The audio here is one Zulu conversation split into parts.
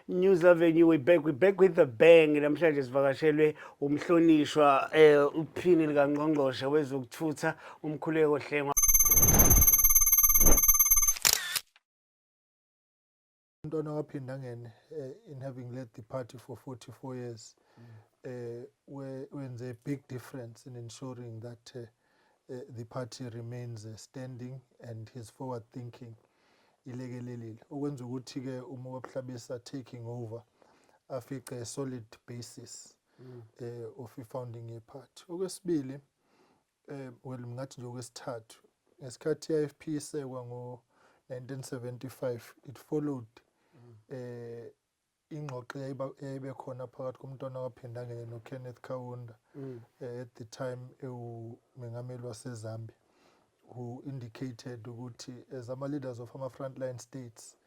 News Avenue we back we back with the bang namhlanje sivakashelwe umhlonishwa eh uphini lika ngqongqoshe wezokuthutha umkhuleko hlengwa Umntwana waphinda ngene eh, in having led the party for 44 years mm. eh, wenze a big difference in ensuring that eh, the party remains standing and his forward thinking ilekelelile okwenza ukuthi ke uma wabuhlabisa taking over afice a solid basis mm. eh of founding a party okwesibili Eh, well ngingathi nje okwesithathu ngesikhathi i-ifp isekwa ngo-1975 it followed mm. eh ingxoxo eyayibe khona phakathi komntwana waphinda ngene nokenneth kawunda mm. eh, at the time ewumengameli wasezambia who indicated ukuthi as ama-leaders of ama-frontline states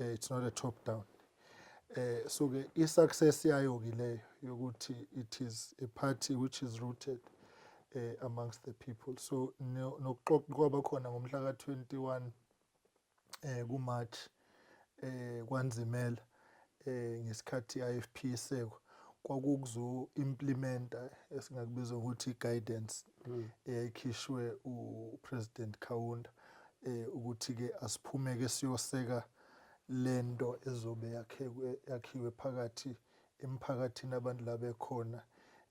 eh, it's not a top down eh so ke i success yayo ke leyo yokuthi it is a party which is rooted eh amongst the people so nokuxoxa kwaba khona ngomhla ka 21 eh ku March eh kwanzimela eh ngesikhathi IFP seko kwakukuzo implementa esingakubiza ukuthi guidance hmm. eyayikhishwe uPresident Kaunda eh ukuthi ke asiphumeke siyoseka lento ezobe yakhiwe yakhiwe phakathi emphakathini abantu la bekhona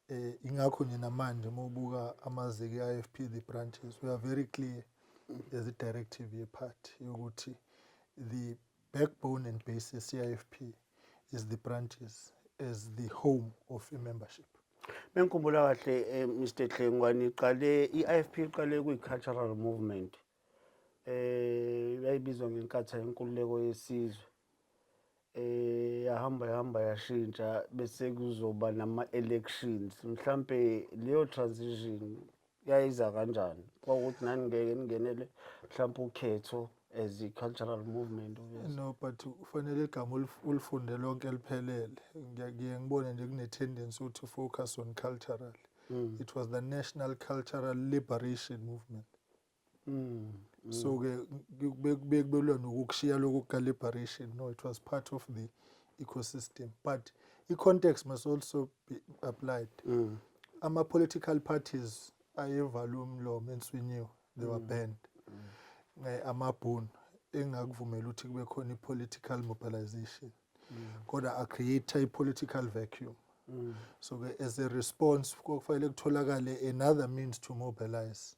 eh ingakho nje namanje uma ubuka amazeke e-IFP the branches we are very clear as a directive ye party yokuthi the Backbone and base ye-CIFP is the branches as the home of a membership. Mengikhumbula kahle eh, Mr Dlengwane iqale i-IFP iqale kuyi-cultural movement eh yayibizwa ngenkatha yenkululeko yesizwe eh yahamba yahamba yashintsha bese kuzoba nama-elections mhlampe leyo transition yayiza kanjani kwakuthi nani ngeke ningenele mhlawumbe ukhetho as i-cultural movement no but ufanele igama ulifunde lonke liphelele ngiye ngibone nje kune-tendency ukuthi focus on cultural mm. it was the national cultural liberation movement Mm. mm. So ke bekubuye kubelwa nokukushiya lokho calibration no it was part of the ecosystem but i-context must also be applied mm. ama-political parties ayevala umlomo enswinyiwe they were mm. banned mm. amabhunu engakuvumela ukuthi kube khona i-political mobilization mm. kodwa acreate i-political vacuum mm. so-ke as a response kufanele kutholakale another means to mobilize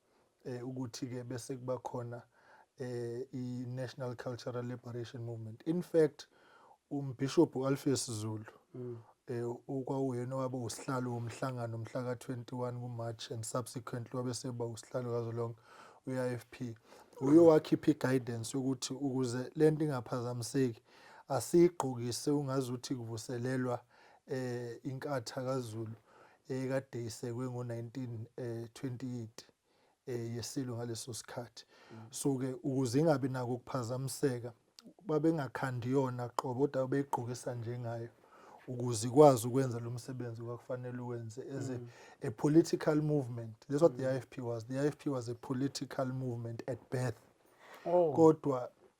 eh, ukuthi-ke bese kuba khona eh, i-national cultural liberation movement in fact umbhishobhi u-alpheus zulu mm. eh, okwawuyena owaba usihlalo womhlangano mhla ka-21 kumarch and subsequently wabe seba usihlalo kazo lonke u-ifp uye wakhipha i-guidance yokuthi ukuze le nto ingaphazamiseki asiyigqokise ungazuthi kuvuselelwa eh inkatha kaZulu ekade isekwe ngo-1928 eh yeSilo ngaleso sikhathi so ke ukuze ingabi nako ukuphazamiseka babengakhandi yona qobo kodwa beyigqokisa njengayo ukuze ikwazi ukwenza lo msebenzi kwakufanele uwenze as a, mm. a political movement that's what the mm. IFP was the IFP was a political movement at birth oh. kodwa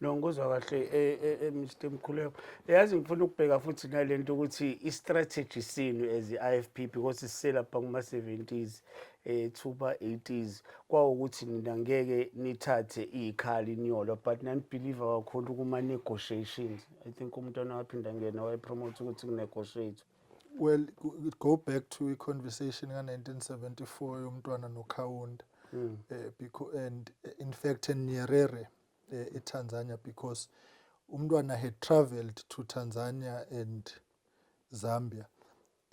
no ngikuzwa kahle eh, eh, eh, Mr Mkhuleko yazi ngifuna ukubheka futhi nalento ukuthi i-strategy sinu as i-IFP because siselapha kuma-70s ethuba 80s kwawukuthi nina ngeke nithathe ikhali inyolo but nanibelieve kakhulu kuma-negotiations i think umntwana waphinda ngena wayepromote ukuthi kunegotiate Well, go back to a conversation ka 1974 yomntwana no Kaunda. Mm. Uh, eh, because, and eh, in fact in Nyerere uh, eh, in Tanzania because umntwana had traveled to Tanzania and Zambia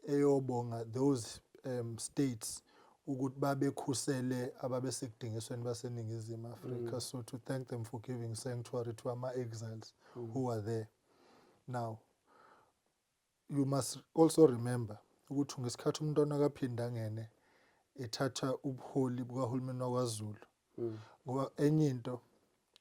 eyobonga those um, states ukuthi babekhusele ababesekudingisweni baseningizimu afrika mm. so to thank them for giving sanctuary to ama-exiles mm. who are there now You must also remember ukuthi ngesikhathi uMntwana kaPhindangene ethatha ubuholi bukahulumeni wakwaZulu mm. ngoba enye into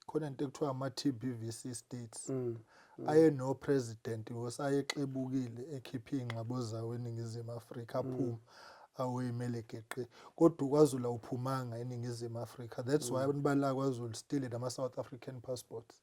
khona into ekuthiwa ama-TBVC states mm. mm. aye no president because ayexebukile ekhiphe ingxabo zawo eningizimu Afrika mm. aphuma mm. awuyimele geqe kodwa ukwazula uphumanga eningizimu Afrika that's mm. why abantu bala kwaZulu still nama South African passports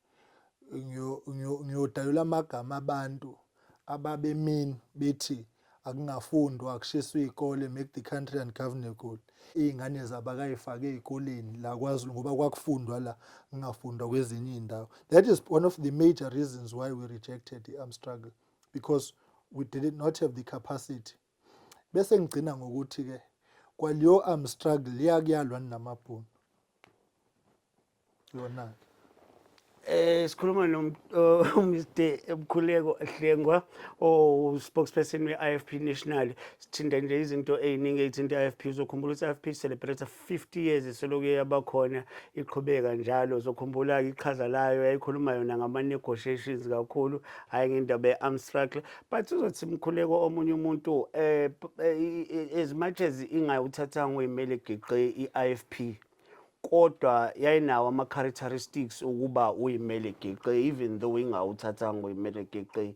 ngiyodalula amagama abantu ababemin bethi akungafundwa kushiswa iy'kole make the country ungovernable iy'ngane zabo akayifake ey'koleni la kwazulu ngoba kwakufundwa la kungafundwa kwezinye iy'ndawo that is one of the major reasons why we rejected the arm struggle because we did not have the capacity Bese ngigcina ngokuthi ke kwaliyo arm struggle liyakuyalwa ninamabhunu. Yona ke. Eh sikhuluma no Mr Mkhuleko Hlengwa o spokesperson we IFP National sithinda nje izinto eziningi ezithinta IFP uzokhumbula ukuthi IFP celebrate 50 years isoloko yabakhona iqhubeka njalo zokhumbula ke iqhaza layo yayikhuluma yona ngama negotiations kakhulu hayi ngendaba ye-arm struggle but uzothi mkhuleko omunye umuntu eh, eh as much as ingayuthathanga uyimele geqe i-IFP kodwa yayinawo ama characteristics ukuba uyimele geqe even though ingawuthathanga uyimele geqe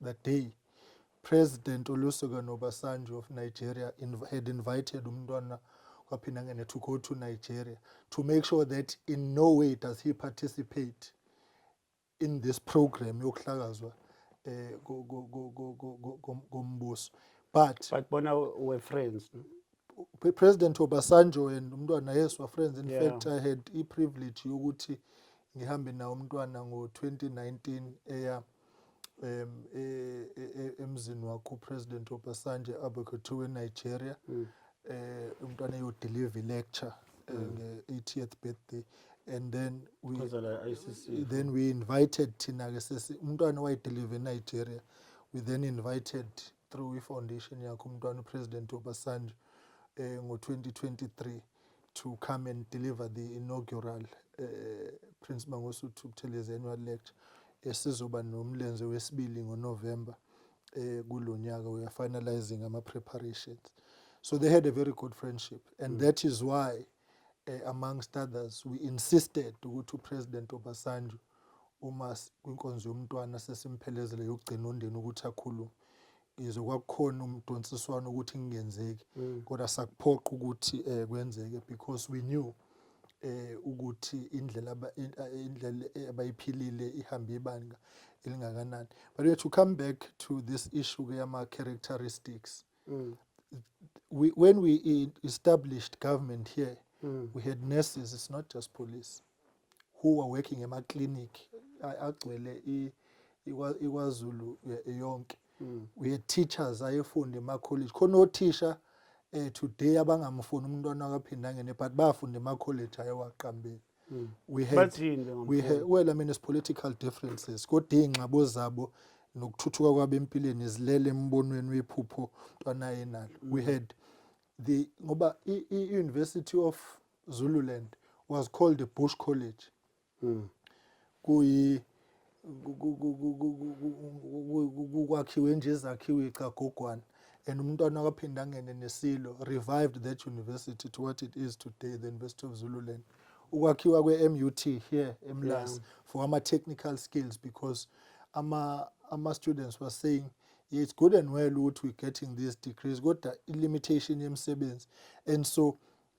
the day President Olusegun Obasanjo of Nigeria inv had invited umntwana kwaPhinangene to go to Nigeria to make sure that in no way does he participate in this program yokuhlakazwa eh kombuso but but bona we friends President Obasanjo and umntwana yes were friends in yeah. fact I had i privilege yokuthi ngihambe nawo umntwana ngo 2019 eya eh, um e, e, e, emzini wakho upresident obasanjo abe kuthiwa enigeria um umntwana eyodelive ilecture nge-80th birthday and then we, then we invited thina-ke sesi umntwana wayedelive enigeria we then invited through i-foundation yakho umntwana upresident obasanjo um ngo-2023 to come and deliver the inaugural uh, Prince Mangosuthu Buthelezi annual lecture esizoba nomlenze wesibili ngoNovember eh kulonyaka we are finalizing ama preparations so they had a very good friendship and mm. that is why eh, amongst others we insisted ukuthi upresident Obasanjo uma kwinkonzo yomntwana sesimphelezele yokugcina ondeni ukuthi akhulume ngizwe kwakukhona umdonsiswano ukuthi kungenzeki mm. kodwa sakuphoqa ukuthi eh kwenzeke because we knew eh ukuthi indlela eh, indlela eh, abayiphilile ihambe ibanga elingakanani but we to come back to this issue ke ama characteristics mm. we, when we established government here mm. we had nurses it's not just police who were working ema clinic agcwele iKwaZulu yonke mm. we had teachers ayefunda ema college khona othisha eh today abangamfuni umntwana akaphinda ngene but bafunda ema college ayewaqambile mm. we had we had well i mean it's political differences kodwa ingxabo zabo nokuthuthuka kwabo empilweni izilele embonweni wephupho mntwana yenalo we mm. had the ngoba i university of Zululand was called a bush college mm. kuyi kwakhiwe nje izakhiwe icagogwana and umntwana waphinda angene nesilo revived that university to what it is today the university of zululand ukwakhiwa kwe-mut here emlas yeah. for ama-technical skills because ama-students ama were saying yeah, it's good and well ukuthi we're getting these degrees kodwa i-limitation yemisebenzi and so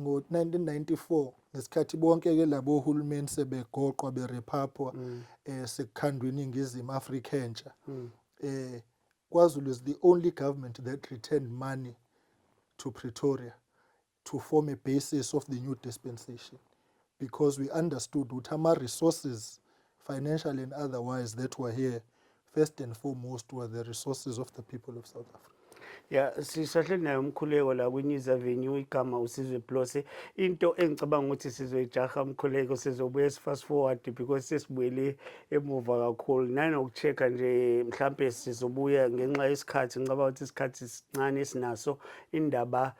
ngo-1994 ngesikhathi bonke-ke labo hulumeni sebegoqwa berephapwa mm. eh, sekukhandwa iningizimu afrika entsha mm. eh, kwazulu is the only government that returned money to pretoria to form a basis of the new dispensation because we understood ukuthi ama-resources financial and otherwise that were here first and foremost were the resources of the people of South Africa. ya sisahleli naye umkhuleko la kwi-news avenue igama usizwe blose into engicabanga ukuthi sizoyijaha umkhuleko sizobuye si-fast forward because sesibuyele emuva kakhulu nanoku-check-a nje mhlampe sizobuya ngenxa yesikhathi ngicabanga ukuthi isikhathi sincane esinaso indaba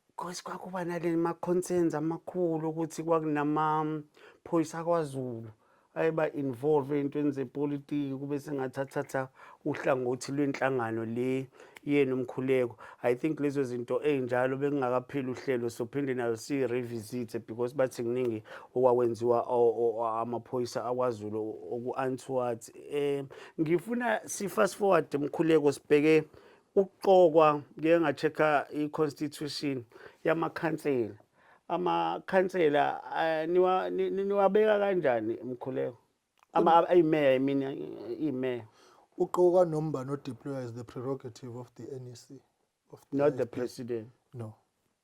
Because kwakuba nale ma-concerns amakhulu ukuthi kwakunamaphoyisa kwaZulu ayeba involve ey'ntweni zepolitiki kube sengathathatha uhlangothi lwenhlangano le yenu umkhuleko i think lezo zinto ey'njalo bekungakapheli uhlelo sophinde nayo siyi-revisite because bathi kuningi okwawenziwa amaphoyisa akwazulu oku-antowards um ngifuna si-fast forward mkhuleko sibheke ukuqokwa ngeke ngacheck-a i-constitution yamakhansela amakhansela eh, niwa- ni- ni- niwabeka kanjani mkhuleko Ama- ayimeya imina imeya uqoka noma ubani odeployer is the prerogative of the nec of the not the IFP. president no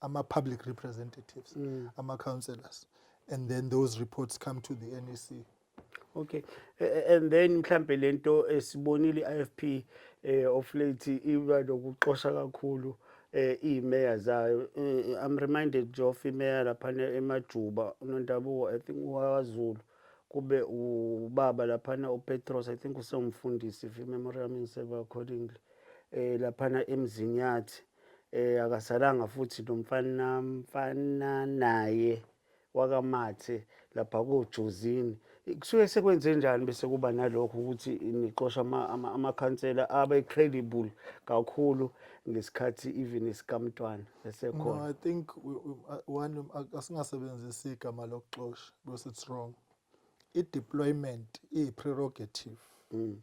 ama public representatives mm. ama councillors and then those reports come to the NEC okay and then mhlambe lento esibonile iFP eh of late iba nokuxosha kakhulu eh imeya zayo eh, i'm reminded of imeya lapha emajuba unondabuko i think waZulu kube ubaba laphana uPetros i think usewumfundisi if memory yami ngiseva accordingly eh laphana emzini yathi eh akasalanga futhi nomfana mfana naye wakamathe lapha kojozini kusuke sekwenze njani bese kuba nalokho ukuthi nixosha amakhansela abe credible kakhulu ngesikhathi even isikamntwana esekhona no i think one asingasebenzisi igama lokuxosha because it's wrong i-deployment iyi-prerogative mm.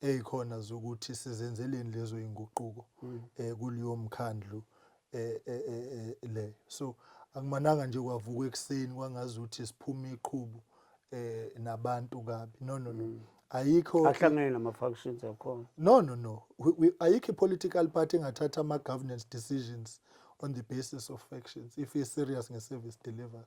ezikhona zokuthi sizenzeleni lezo inguquko mm. eh kuliyo mkhandlu eh, eh, eh, eh le so akumananga nje kwavuka ekseni kwangazi ukuthi siphuma iqhubu eh nabantu kabi no no no mm. ayikho ahlangene nama factions akhona no no no ayikho political party engathatha ama governance decisions on the basis of factions if is serious nge service delivery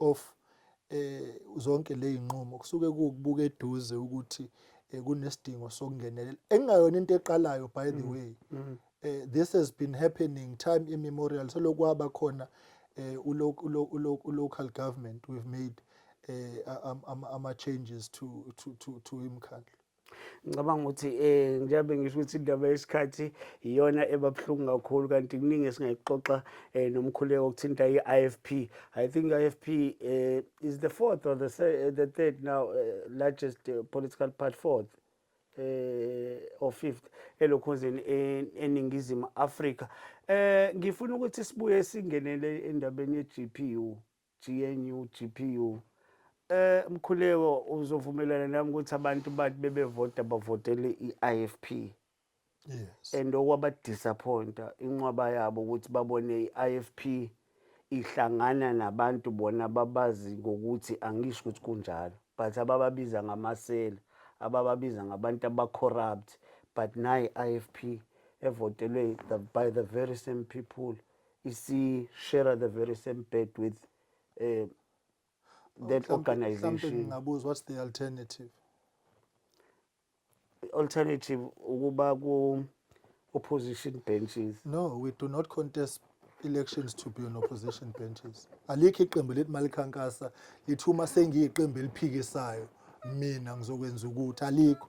of eh zonke lezinqumo kusuke kukubuka eduze ukuthi eh, kunesidingo sokungenelela engayona into eqalayo by the mm. way mm. eh, this has been happening time immemorial selokwaba khona eh, ulocal government we've made eh, ama changes to to to to imkhandlu ngicabanga ukuthi um njengabe ngisho ukuthi indaba yesikhathi iyona ebabuhlungu kakhulu kanti kuningi esingayixoxa um nomkhuleko okuthinta i-i f p i think i-i f p um is the fourth or the, eh, the third now uh, largest uh, political part fourth eh or fifth elokhonzeni eningizimu Afrika eh ngifuna ukuthi sibuye singenele endabeni ye-GPU GNU GPU eh Mkhuleko uzovumelana nami ukuthi abantu bathi bebevota bavotele iIFP yes and okwaba disappointa inqwaba yabo ukuthi babone iIFP ihlangana nabantu bona babazi ngokuthi angisho ukuthi kunjalo but abababiza ngamasela abababiza ngabantu abacorrupt but nayi IFP evotelwe by the very same people isi-share the very same bed with um that Mhlampe- mhlampe organization ngingabuza what's the alternative alternative ukuba ku opposition benches no we do not contest elections to be on opposition benches alikho iqembu lethi malikhankasa lithi uma sengiyiqembu eliphikisayo mina ngizokwenza ukuthi alikho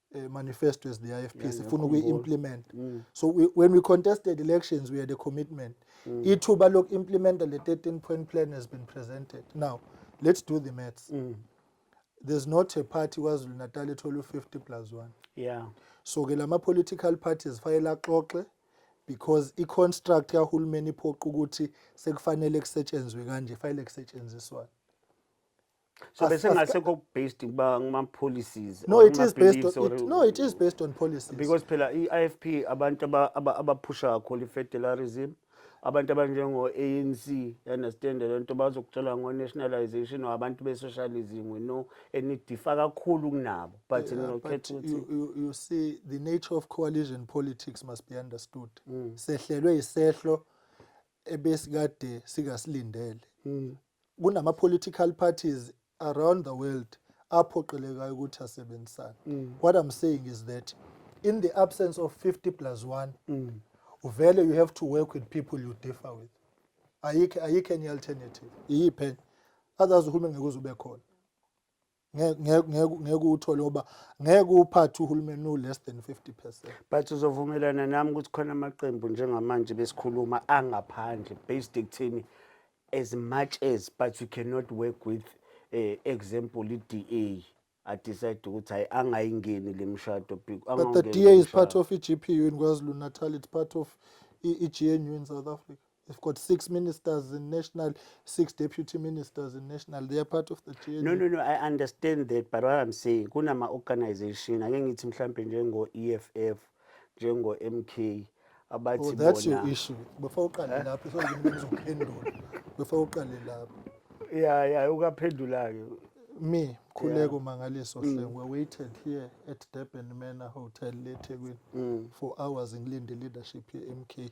uh, manifesto as the IFP yeah, sifuna ukuyi implement mm. so we, when we contested elections we had a commitment mm. ithuba loku implement the 13 point plan has been presented now let's do the maths mm. there's not a party KwaZulu Natal ethola u50 plus 1 yeah so ke lama political parties fayele axoxe because i construct kahulumeni iphoqa ukuthi sekufanele kusetshenzwe kanje fayele kusetshenziswa so As- bese as- ngasekho based kuba ngama policies no or it is based kuma-beliefs on, or- it, no it is based on policies because phela i-ifp abantu aba- aba- abaphusha kakhulu i-federalism abantu abanjengo-anc you understand le nto bazokutshela ngo-nationalization or abantu be-socialism we know and nidifa kakhulu kunabo but Yeah, but ninokhetha ukuthi you, you, you see the nature of coalition politics must be understood Mm. sehlelwe isehlo ebesikade singasilindele mm. kunama political parties around the world aphoqelekayo ukuthi asebenzisane mm. what i'm saying is that in the absence of 50 plus 1 mm. uvele you have to work with people you differ with ayikho ayikho enye alternative iyiphe others uhulumeni ngeke uze ube khona ngeke ngeke ngeke uthole ngoba ngeke uphathe uhulumeni u less than 50%. But uzovumelana nami ukuthi khona amaqembu njengamanje besikhuluma angaphandle based ekuthini as much as but you cannot work with eh, example i-DA I decide ukuthi hayi angayingeni le mshado big- But the angawungeni DA lo is part mshado. of i-GPU in KwaZulu Natal, it's part of i-GNU in South Africa. They've got six ministers in national, six deputy ministers in national. They are part of the GNU. No, no, no, I understand that, but what I'm saying, kunama organization, ake ngithi mhlampe njengo EFF, njengo MK, Oh, abathi that's your bona. issue. Before uqale lapho, so ngizophendula. Before uqale lapho. Yeah, yeah, ukaphendula-ke. Me, Khuleko Mangaliso Hleng, were waited here at Durban Manor Hotel, eThekwini, for hours ngilinde leadership ye-MK.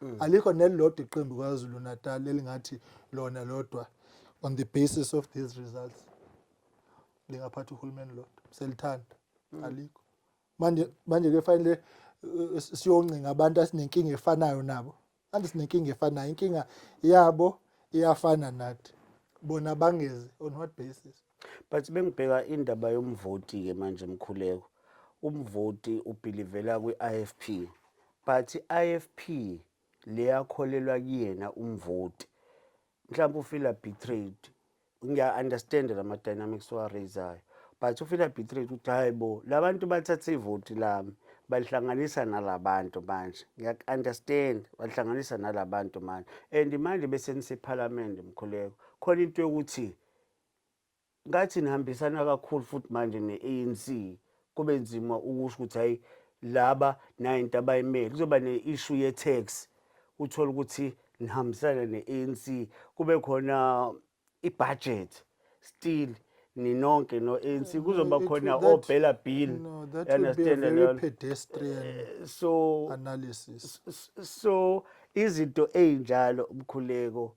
mm. alikho nelilodwa iqembu kwazulu natal elingathi lona lodwa on the basis of these results lingaphatha uhulumeni lodwa selithanda mm. alikho manje manje ke fanele uh, siyoncinga abantu asinenkinga efanayo nabo kanti sinenkinga efanayo inkinga yabo iyafana nathi bona bangezi on what basis But bengibheka indaba yomvoti-ke manje Mkhuleko, umvoti ubhilivela kwi-IFP but i-IFP leyakholelwa kuyena umvoti mhlawumbe ufila betrayed ngiya-understanda la ma-dynamics owaraisayo but ufila betrayed ukuthi hhayi bo la bantu bathathe ivoti lami balihlanganisa nala bantu manje ngiyaku-understand balihlanganisa nala bantu manje and manje besenisephalamende mkhuleko khona into yokuthi ngathi nihambisana kakhulu futhi manje ne-anc kube nzima ukusho ukuthi hhayi laba nayo into abayimele kuzoba ne-ishu ye-tax uthole ukuthi nihambisana ne-anc kube khona i-budget still ninonke no-anc mm, kuzoba khona obhela bill eh, so analysis so izinto ey'njalo umkhuleko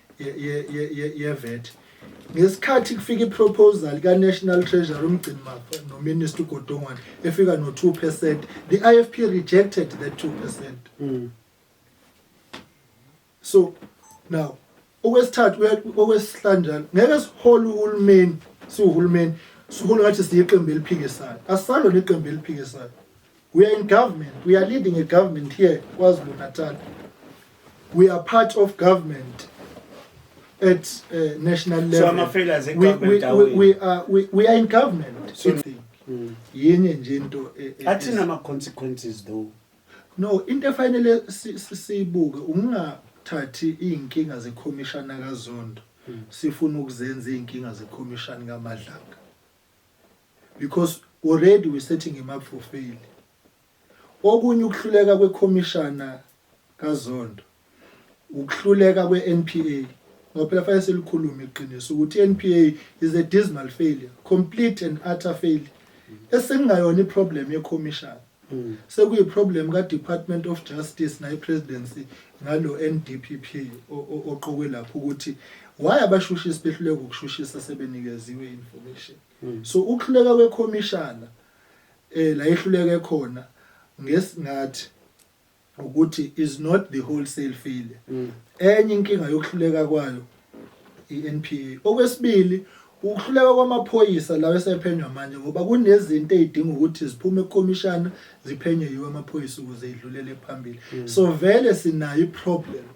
yevet ngesikhathi kufika iproposal ka-national treasury umgcini mafa nominister ugodongwane efika no-two percent the i f p rejected that two percent mm. so now okwesithathu okwesihlanjalo ngeke sihole uhulumeni siwuhulumeni sihole ngathi siyiqembu eliphikisayo asisalo neqembu eliphikisayo We are in government. We are leading a government here, KwaZulu Natal. We are part of government at uh, national level. So I'm afraid as a government, we, we, we, are, we, we are in government. So, mm. yenye nje into e- e- athini ama-consequences though no into efanele si- si- siyibuke ukungathathi iy'nkinga zekhomishana kazondo hmm. sifuna ukuzenza iy'nkinga zekhomishani kamadlanga because already we setting him up for fail okunye ukuhluleka kwekhomishana kaZondo ukuhluleka kweNPA ngoba phela fanele selikhulume iqiniso ukuthi iNPA is a dismal failure complete and utter failure esingayona iproblem yekhomishana Mm. Sekuyi problem ka Department of Justice nayi presidency ngalo NDPP oqokwe lapho ukuthi why abashushisi behluleka ukushushisa sebenikeziwe information. Mm. So ukuhluleka kwe commissioner eh la ihluleke khona ngesingathi ukuthi is not the wholesale failure mm. enye inkinga yokuhluleka kwayo iNPA okwesibili ukuhluleka kwamaphoyisa lawo esephenywa manje ngoba kunezinto ezidinga ukuthi ziphume ekomishana ziphenywe yiwe amaphoyisa ukuze idlulele phambili mm. so vele sinayo iproblem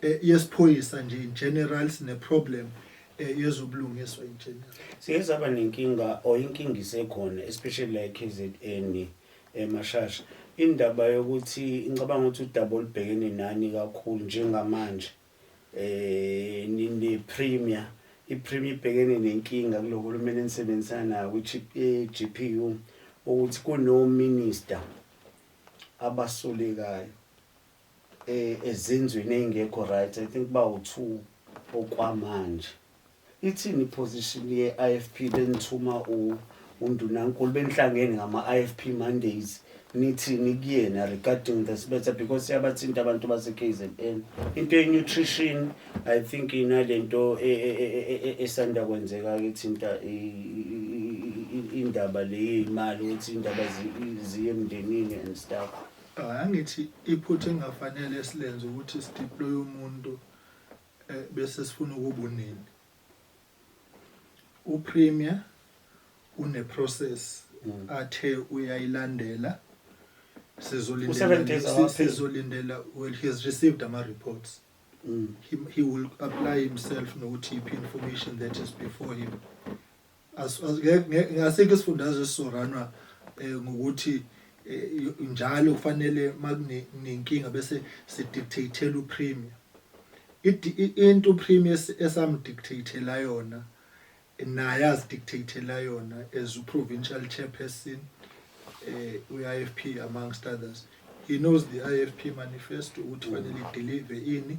eh, yesiphoyisa nje in general sine problem eh, yezobulungiswa in general siye saba nenkinga or inkinga isekhona especially la KZN emashasha indaba yokuthi incabanga ukuthi udaba olubhekene nani kakhulu njengamanje eh nine premier ipremier ibhekene nenkinga kulohulumeni enisebenzisana nayo kwi-GPU eh, ukuthi kuno minister abasolekayo eh, ezenzweni eyingekho right i think bawu 2 okwamanje ithini position ye IFP benithuma u undunankulu benihlangene ngama IFP Mondays nithini kuyena regarding this matter because siyabathinta abantu base KZN into ye nutrition i think inalento e, e, e, esanda kwenzeka ke thinta indaba le imali ukuthi indaba ziye emndenini and stuff Cha angithi iphutha engafanele esilenze ukuthi sideploy umuntu eh, bese sifuna ukubunini. UPremier une process mm. athe uyayilandela sizolindela sizolindela well he has received ama reports mm. he, he will apply himself nokuthi iphi information that is before him asikho isifundazwe esizoranwa eh, ngokuthi eh, njalo kufanele makunenkinga bese sidictatela upremier into upremier esamdictatela yona naye azidictatela yona as uprovincial chairperson eh uIFP amongst others he knows the IFP manifesto ukuthi fanele ideliver ini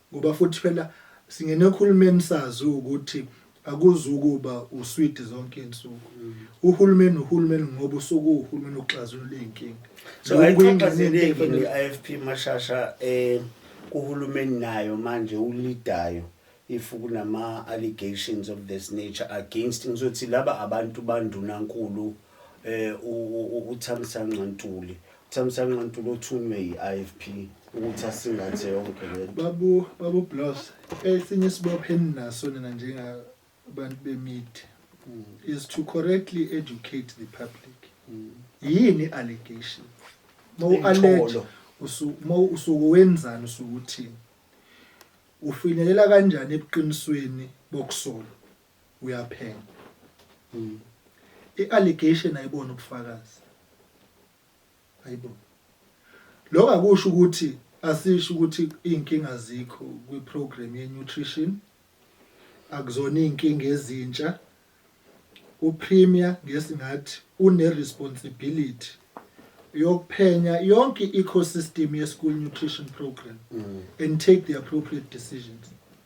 Ngoba futhi phela singena ekhulumeni sazi ukuthi akuzukuba uswidi zonke insuku uhulumeni uhulumeni ngoba usuku uhulumeni uxazulula izinkinga so ayixhaphazele iFP mashasha eh kuhulumeni nayo manje ulidayo if kunama allegations of this nature against ngizothi laba abantu bandunankulu eh uThamisanqa Ntuli uThamisanqa Ntuli othunywe yi-IFP ukuthi asingathe yonke le babu babu bloss esinye isibopho eninaso nina njengabantu bemithi mm. is to correctly educate the public mm. yini allegation mawuallege usuke wenzani usuke uthini ufinyelela kanjani ebuqinisweni bokusola uyaphenya mm. i-allegation ayibona ubufakazi ayibo lokho akusho ukuthi asisho ukuthi izinkinga zikho kwiprogram yenutrition akuzona izinkinga ezintsha upremier ngesingathi uneresponsibility yokuphenya yonke i-ecosystem ye-school nutrition program mm. and take the appropriate decisions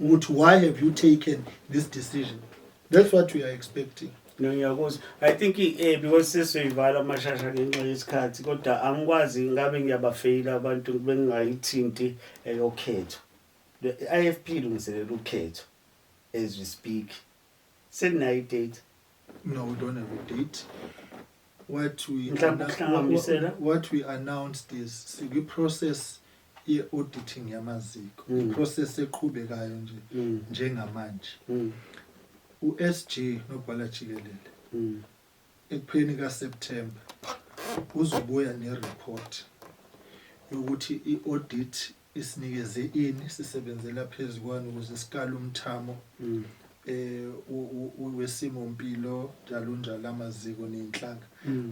ukuthi why have you taken this decision that's what we are expecting no ngiyakuzwa i think eh because sesiyivala amashasha ngenxa yesikhathi kodwa angikwazi ngabe ngiyabafeyila abantu bengayithinti eyokhetho le IFP ilungiselela ukhetho as we speak Seninayo idate. No, we don't have a date. What we Mhlawumbe annou- ukuhlanganisela. what- what we announce this sikwi process ye auditing yamaziko. Mm. Process eqhubekayo nje Mm. njengamanje. Mm. USG nobhala jikelele Mm. ekupheni ka September uzobuya ne report yokuthi i audit Isinikeze ini, sisebenzela phezu kwani ukuze sikale umthamo um wesimo mpilo njalonjalo, amaziko neyinhlaka.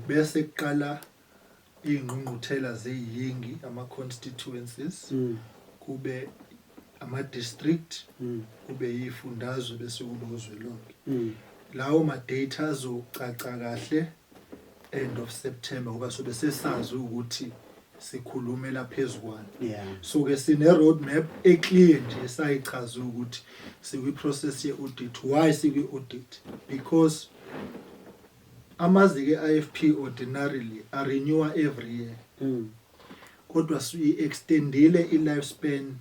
Bese kuqala iyingqungquthela zeyingi, ama-constituencies, kube ama-district, kube yiyifundazwe bese kuba uzwelonke. Lawo ma-data azocaca kahle end of September ngoba sobe sesazi ukuthi sikhulumela phezukwana yeah. so ke sine road map eclear nje esayichaza ukuthi sikwi process ye audit why sikwi audit because amazike IFP ordinarily are renewer every year mm. kodwa si extendile i lifespan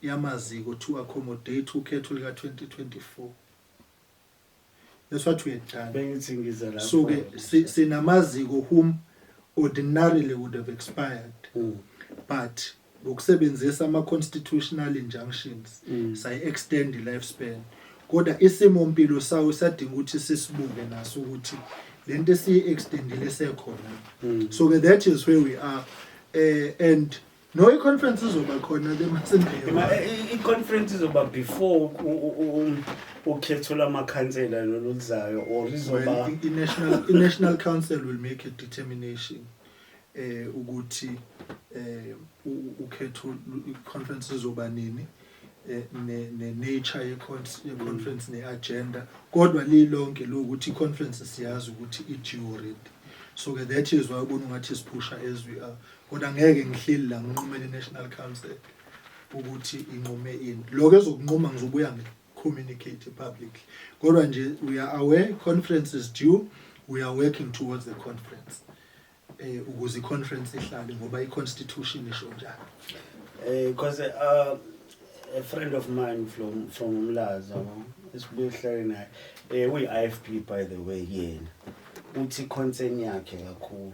yamaziko to accommodate ukhetho lika 2024 that's what we had done bengithi ngiza lapho so ke si- sinamaziko whom ordinarily would have expired Mm. but ngokusebenzisa ama-constitutional injunctions Mm. sayi-extend i-life span kodwa isimo mpilo sawo sadinga ukuthi sisibuke naso ukuthi le nto esiyi-extendile sekhona Mm. so ke that is where we are um and No i-conference izoba khona ke masembeyo. I conference izoba before ukhetho lamakhansela loluzayo or izoba i national i national council will make a determination eh ukuthi eh ukhetho conference izoba nini eh, ne ne nature ye conference ne agenda kodwa lilonke lokuthi i conference siyazi ukuthi i due already so ke that is why ubona ngathi siphusha as we are kodwa ngeke ngihleli la nginqumele i-national council ukuthi inqume ini lokho ezokunquma ngizobuya ngi-communicate publicly kodwa nje we are aware conference is due we are working towards the conference eh ukuze i-conference ihlale ngoba i-constitution isho njalo eh because uh, a friend of mine from from Umlaza esibuye sihlale naye eh uyi-IFP by the way yena uthi concern yakhe kakhulu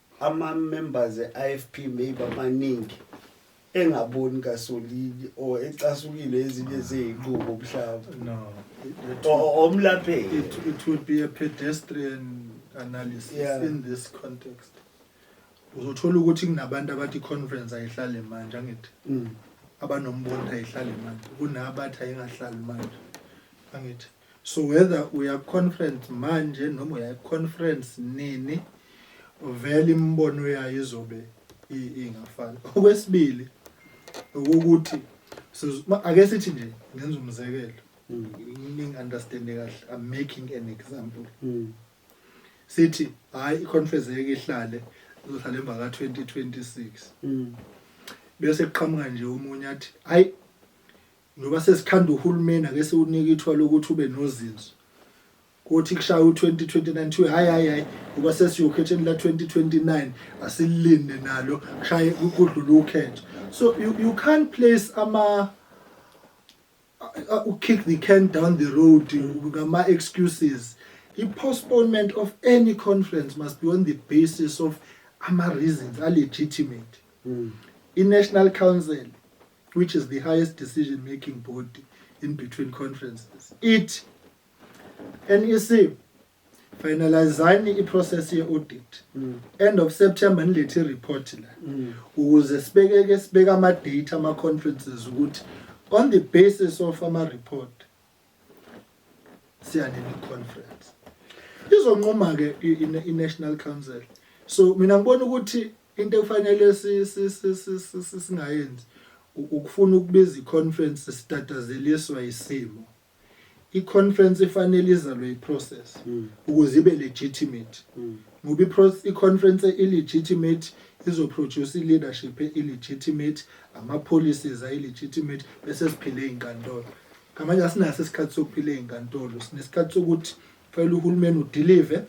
Ama members e IFP may bamaningi engaboni kasolili or ecasukile ezinye zezinqubo mhlawumbe. No. It, O- Omlapheki. it, it would be a pedestrian analysis Yeah. in this context. Uzothola ukuthi kunabantu abathi conference ayihlale manje angithi Mm. abanombono ayihlale manje kunabathi ayingahlali manje angithi so whether uya conference manje noma uya conference nini vele imibono yayo izobe ingafani okwesibili ukuthi ake sithi nje ngenza umzekelo mm. ningi understand kahle i'm making an example mm. sithi hayi iconference yeke ihlale izohlala emva ka 2026 mm. bese kuqhamuka nje umunye athi hayi Njengoba sesikhanda uhulumeni ake siwunike ithuba lokuthi ube nozinzo. Kuthi kushaya u-2029 kuthiwe hhayi hhayi hhayi ngoba sesiyokhetheni la-2029 asililinde nalo kushaye kudlule ukhetho. So you, you can't place ama ukick the can down the road ngama-excuses. I-postponement of any conference must be on the basis of ama-reasons a-legitimate. Mm. I-National Council which is the highest decision making body in between conferences ithi NEC finalizani iprocess ye-audit mm. end of september nilethe ireport la mm. ukuze sibekeke sibeke ama-date ama-conferences ukuthi on the basis of ama-report siyanini conference izonquma-ke i-national council so mina ngibona ukuthi into ekufanele singayenzi ukufuna ukubiza iconference sitatazeliswa isimo iconference ifanele izalwe iprocess hmm. ukuze ibe legitimate hmm. ngoba iconference illegitimate izoproduce ileadership illegitimate ama policies ay legitimate bese siphile izinkantolo ngamanje asinaso isikhathi sokuphila ezinkantolo sinesikhathi sokuthi Fanele uhulumeni udelive,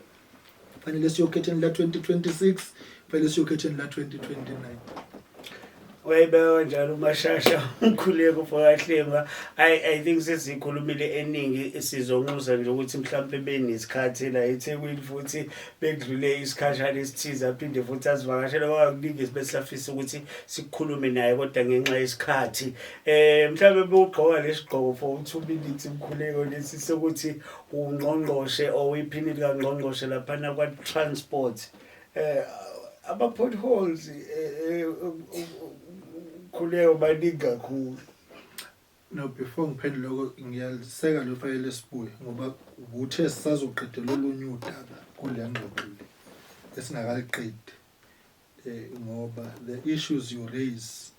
fanele siyokhetheni la 2026, fanele siyokhetheni la 2029. wayibeka njalo umashasha umkhuleko mfokahlengwa i i think sesikhulumile eningi sizonxusa nje ukuthi mhlawumbe benesikhathi la eThekwini futhi bekudlule isikhashana esithize aphinde futhi asivakashele ngoba kuningi esibesafisa ukuthi sikhulume naye kodwa ngenxa yesikhathi eh mhlawumbe bewugqoka lesigqoko for 2 minutes umkhuleko lesi sokuthi ungqongqoshe or iphini likangqongqoshe laphana kwa-transport eh ama-potholes eh, eh, khuleko baningi kakhulu no before ngiphendule lokho ngiyaliseka lo fayela esibuye ngoba uthe sisazoqedela olunye udaba kule ngxoxo le esingakaliqedi um ngoba the issues you raise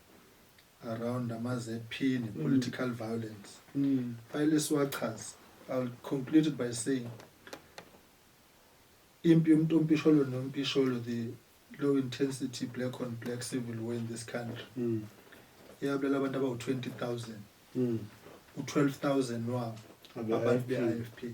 around ama-zp ne-political mm. violence mm. fayele siwachaze iwill conclude it by saying impi yomntu ompisholo nompisholo the low intensity black on black civil war in this country mm. yabulala abantu abawu-20 000 u-12 000 wabo abantu be-i f p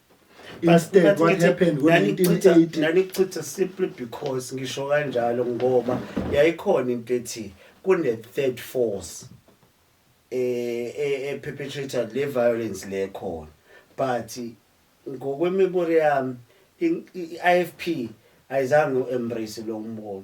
instead what happened ngo-1980 nanichitha simply because ngisho kanjalo ngoba yayikhona into ethi kune-third force eh, eh, eperpetrator le violence le khona but ngokwemibore yami i-ifp ayizange u-embrace lo mbono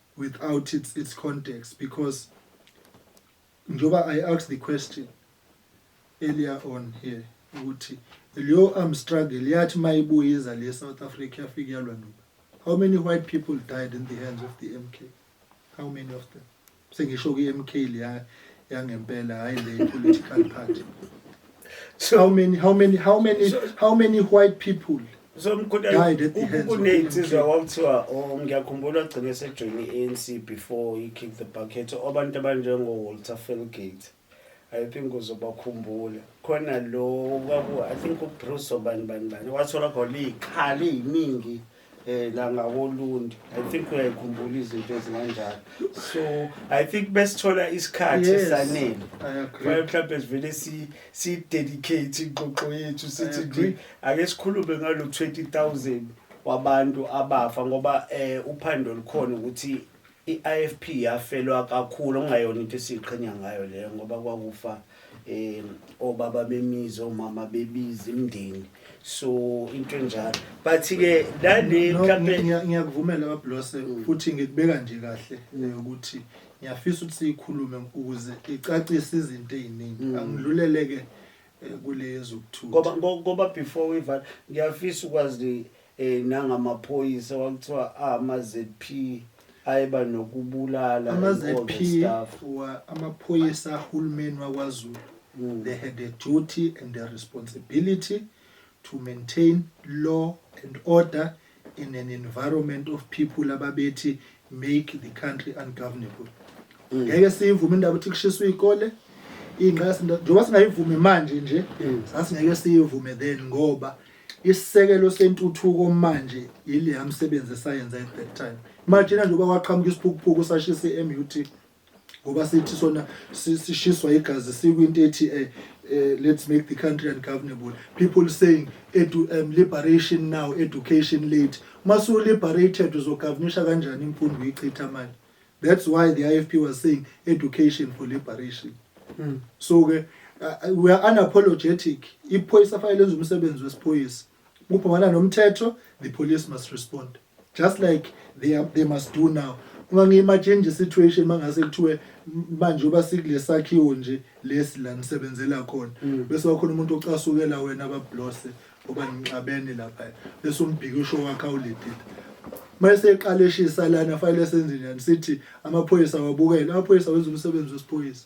without its its context because njoba I asked the question earlier on here ukuthi leyo arm struggle yathi mayibuyiza le South Africa yafika yalwa noba how many white people died in the hands of the MK how many of them sengisho ki MK leya yangempela hayi le political party so how many how many how many how many white people somkhuthaza kunensizwa kwakuthiwa oh, ngiyakhumbula gcine sejoyini i-anc before i-kick the bucket abantu abanjengo-walter felgate i think uzobakhumbula khona lo i think ubruce obani bani bani wathola khona iy'khala ey'ningi eh la ngakolundi i think uyayikhumbula izinto ezinganjalo so i think besithola isikhathi esanele mhlawumbe sivele si yes. Sidedicate ingxoxo yethu sithi nje ake sikhulume ngalo 20000 wabantu abafa ngoba eh uphando likhona ukuthi i-IFP yafelwa kakhulu okungayona into esiqhenya ngayo leyo ngoba kwakufa eh obaba bemizi omama bebizi imndeni so into enjalo but ke lale mhlambe ngiyakuvumela bablose futhi ngikubeka nje kahle ukuthi ngiyafisa ukuthi siyikhulume ukuze icacise izinto eziningi mm. angidluleleke eh, kulezo ukuthuka ngoba ngoba before we val ngiyafisa ukwazi eh nangamaphoyisa wakuthiwa ama ZP ayeba nokubulala ama ZP wa amaphoyisa ahulumeni wakwaZulu mm. they had a duty and a responsibility to maintain law and order in an environment of people ababethi make the country ungovernable mm. ngeke siyivume indaba ukuthi kushiswa izikole ingqasi njengoba singayivumi manje nje mm. sasingeke siyivume then ngoba isisekelo sentuthuko manje yile yamsebenzi esayenza at that time imagine njengoba kwaqhamuka isiphukuphuku sashisa i-MUT ngoba sithi sona sishiswa igazi sikwinto ethi eh, eh, let's make the country ungovernable people saying edu, um, liberation now education late masu liberated uzogovernisha kanjani imfundo uyichitha manje that's why the ifp was saying education for liberation mm. so ke uh, we are unapologetic iphoyisa fanele lenza umsebenzi wesiphoyisa Ubhawala nomthetho, the police must respond. Just like they, are, they must do now. Uma ngiyimatshenje situation mangase kuthiwe manje uba sikule sakhiwo nje lesi la nisebenzela khona mm. bese wakhona umuntu ocasukela wena abablose oba nixabene lapha bese umbhikisho wakhe awuledile mase eqala eshisa lana fanele senze njani sithi amaphoyisa wabukele amaphoyisa wenza umsebenzi wesiphoyisa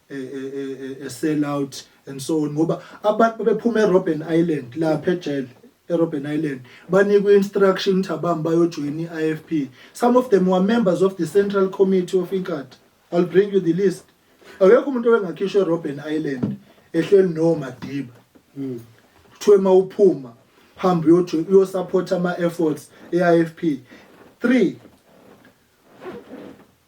e, e, e, sell out and so on ngoba abantu bephuma eRobben Island lapha ejele eRobben Island banikwe instruction ukuthi abami bayojoin iIFP some of them were members of the Central Committee of Inkatha I'll bring you the list akekho umuntu owengakhishwa eRobben Island ehleli no Madiba mm. kuthiwe mawuphuma hamba uyojoin uyosupport ama efforts eIFP 3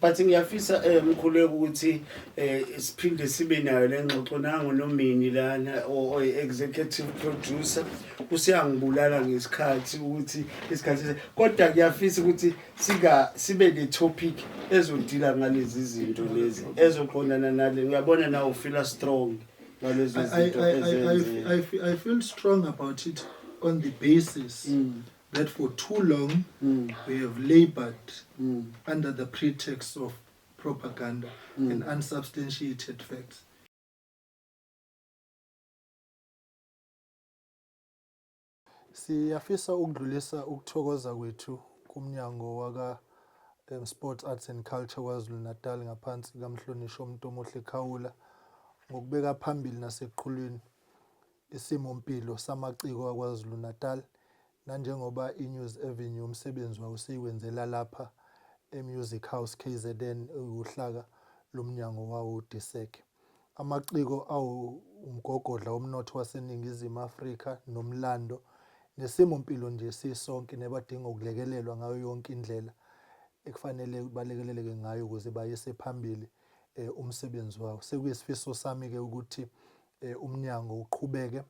But ngiyafisa eh, mkhuleko ukuthi eh, siphinde sibe nayo le ngxoxo nango nomini lana oyi-executive producer usiyangibulala ngesikhathi ukuthi isikhathi kodwa kuyafisa ukuthi sika sibe ne-topic ezodila ngalezi zinto lezi ezoqondana nale ngiyabona nawe ufila strong ngalezo zinto I feel strong about it on the basis mm. that for too long mm. we have labored mm. under the pretext of propaganda mm. and unsubstantiated facts. Siyafisa ukudlulisa ukuthokoza kwethu kumnyango waka um, Sports Arts and Culture KwaZulu-Natal ngaphansi kaMhlonishwa uMntomuhle Khawula ngokubeka phambili nasekuqhulwini Isimo mpilo samaciko aKwaZulu-Natal nanjengoba iNews Avenue umsebenzi wayo siyiwenzela lapha eMusic House kzn ewuhlaka lomnyango wawo uDisek. Amaciko awu umgogodla womnotho waseNingizimu Afrika nomlando nesimo mpilo nje sisonke nebadinga ukulekelelwa ngayo yonke indlela ekufanele balekeleleke ngayo ukuze bayise phambili eh, umsebenzi wawo. Sekuyisifiso sami-ke ukuthi eh, umnyango uqhubeke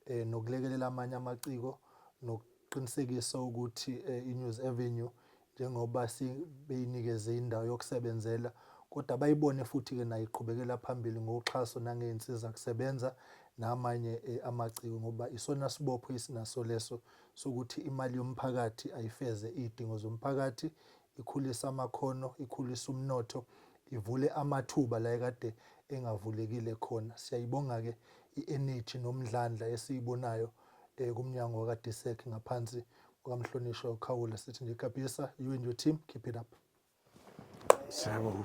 eh, nokulekelela amanye amaciko nokuqinisekisa ukuthi eh, iNews Avenue njengoba sibeyinikeze indawo yokusebenzela kodwa bayibone futhi-ke nayo iqhubekela phambili ngoxhaso nangey'nsiza kusebenza namanye eh, amaciko ngoba isona sibopho esinaso leso sokuthi imali yomphakathi ayifeze iy'dingo zomphakathi ikhulise amakhono, ikhulise umnotho, ivule amathuba la ekade engavulekile khona. Siyayibonga-ke i-eneji nomdlandla esiyibonayo um kumnyango wakadisek ngaphansi kukamhlonishwa ukhawula sithi nje gabhisa you and your team keep it up siyabonga